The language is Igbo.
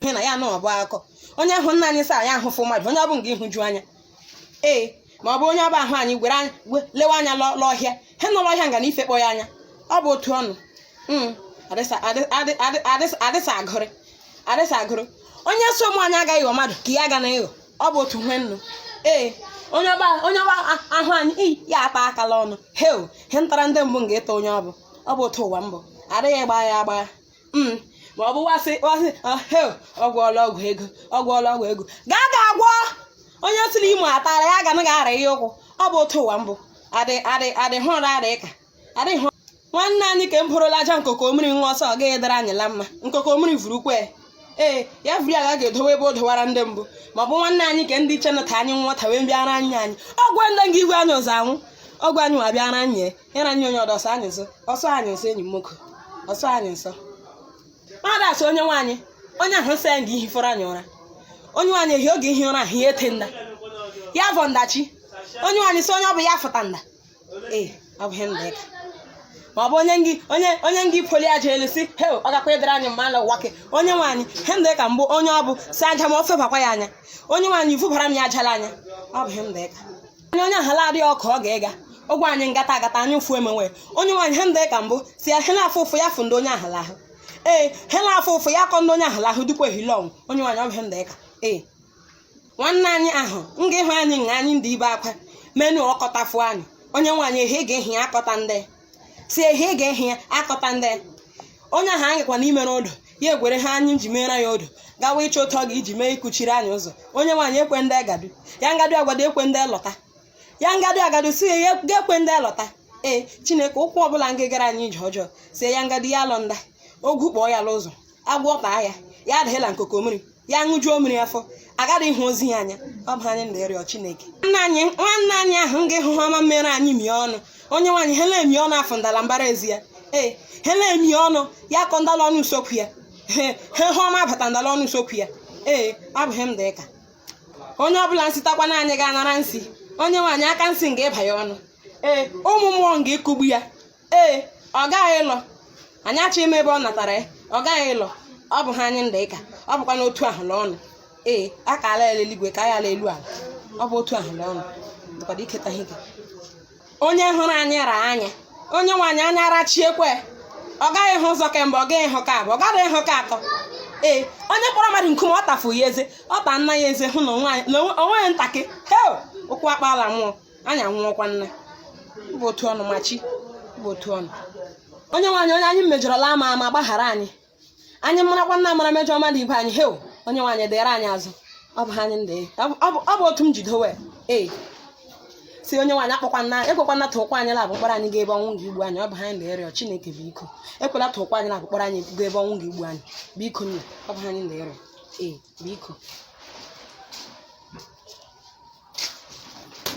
ihe na ya na ọbụ akọ onye hụ nna anyị saa ya ahụfụ mmadụ onye ọ bụ nga ịhụju anya ee ma ọ bụ onye ọba ahụ anyị gwere anyị we- lewe anya lọ- l'ọhịa he nọ l'ọhịa nga na ife kpọ ya anya ọ bụ otu ọnụ Mm, adịsa adị- adị- adị- adịsa adịsa agụrị adịsa agụrụ onye so ụmụ anyị agaghị ịghọ mmadụ ka ya ga na ịghọ ọ bụ otu nwe nnụ ee onye ọba onye ọba a- ahụ anyị iyi ya ata akala ọnụ heo he ntara ndị mbụ nga ịta onye ọ bụ ọ bụ otu ụwa mbụ adịghị gbagha ya agbagha Mm, ma ọ bụ wasị wasị ah, hell, ọ gwọọla ọgwụ ego ọ gwọọla ọgwụ ego gaa ga agwọ onye si n'imo atara ya ga naghị ara ya ụkwụ ọ bụ otu ụwa mbụ adị adị adị hụ ụra adị ka adị hụ nwanne anyị ka m bụrụla aja nkoko mmiri nwa ọsọ ọ gaghị dara anyị la mma nkoko mmiri vuru kwe ee ya vuri aga ga-edowe ebe o dowara ndị mbụ ma ọ bụ nwanne anyị ka ndị iche nata anyị nwata wee bịara anyị anyị ọgwa ndị nga igwe anyị ụzọ anwụ ọgwa anyị wa bịara anyị ya na nye onye ọdọ ọsọ anyị nso ọsọ anyị nso enyi m nwoke ọsọ anyị nso mmadụ asị onye nwe anyị onye ahụ nsị ya nga ihi fọrọ anyị ụra onye nwe anyị ehi oge ihi ụra ahụ ya ete nda ya vọ ndachi onye nwe anyị sị onye ọ bụ ya fụta nda ee ọ bụ ihe nda ịka ma ọ bụ onye ngị onye onye ngị poli aja elu sị he ọ gakwa ịdịrị anyị mma ala ụwa ke onye nwe anyị he nda ịka mbụ onye ọ bụ si aja ma ọ febakwa ya anya onye nwe anyị vụbara m ya aja l'anya ọ bụ ihe nda ịka anya onye ahala adịghị ọkụ ọ ga-ịga ụgwọ anyị ngata agata anyị ụfụ emenwe onye nwe anyị ha ndị ka mbụ sị ya hela afụ ụfụ ya fụ ndị onye ahala ahụ ee hela afụ ụfụ ya kọ ndị onye ahala ahụ dịkwa ehile ọnwụ onye nwe anyị ọ bụ ha ndị ka ee nwanne anyị ahụ nga ịhụ anyị nga anyị ndị ibe akwa menu ọkọtafụ anyị onye nwe anyị ehi ga ehi akọta ndị sị ehi ị ga-ehi ya akọta ndị ya onye ahụ anyị gakwa n'ime n'odo ya egwere ha anyị ji meere ya odo gawa ịchọ otu ọ ga iji mee ịkụchiri anyị ụzọ onye nwe anyị ekwe ndị agadu ya ngadu agwado ekwe ndị lọta ya ngadu agadu sị ya ga-ekwe ndị lọta ee chineke ụkwụ ọbụla nga gara anyị ije ọjọọ sị ya ngadu ya lọ nda ogwu kpọọ ya n'ụzọ agwọ taa ya ya adịghịla nkoko mmiri ya ṅụjuo mmiri afọ agaghị ịhụ ozu ya anya ọ bụ anyị na-arịọ Chineke nwanne anyị nwanne anyị ahụ nga ịhụ ha ọma mere anyị mie ọnụ onye nwe anyị ha na-emi ọnụ akọ ndala mbara ezi ya ee ha na-emi ọnụ ya kọ ndala ọnụ usokwu ya ee ha hụ ọma bata ndala ọnụ usokwu ya ee ọ bụ ihe m dị ka onye ọbụla nsịtakwa na anyị ga-anara nsị onye nwe anyị aka nsị nga ịba ya ọnụ ee ụmụ mmụọ nga ịkụgbu ya ee ọ gaghị ịlọ anyị achọ ime ebe ọ natara ya ọ gaghị ịlọ ọ bụ ha anyị ndị ịka ọ bụkwa n'otu ahụ na ọnụ ee a ka ala eluigwe ka ya ala elu ala ọ bụ otu ahụ na ọnụ dịkwado iketa ihe ike onye hụrụ anyị ra anya onye nwe anyị anya arachiekwa ọ gaghị hụ ụzọ ke mbụ ọ gaghị hụ ke abụọ ọ gaghị hụ ke atọ ee onye kpọrọ mmadụ nkume ọ tafu ya eze ọ ta nna ya eze hụ na onwe ya ntakị hel ụkwụ akpala mmụọ anyị anwụọkwa nna bụ otu ọnụ ma chi bụ otu ọnụ onyenwe anyị onye anyị mejọrọla ama ama gbaghara anyị anyị marakwa nna mara mejọ mmadụ ibe anyị hew onyenwe anyị dịrị anyị azụ ọ bụ ha anyị ndị ọ bụ otu m ji dowe ee sị onyenwe anyị akpọkwana ekwekwana tụkwa anyị labụ mkpọrọ anyị gaa ebe ọnwụ ga-igbu anyị ọ bụ ha anyị ndị ịrịọ chineke biko ekwela tụkwa anyị labụ mkpọrọ anyị gaa ebe ọnwụ ga-igbu anyị biko nna ọ bụ ha anyị ndị ịrịọ ee biko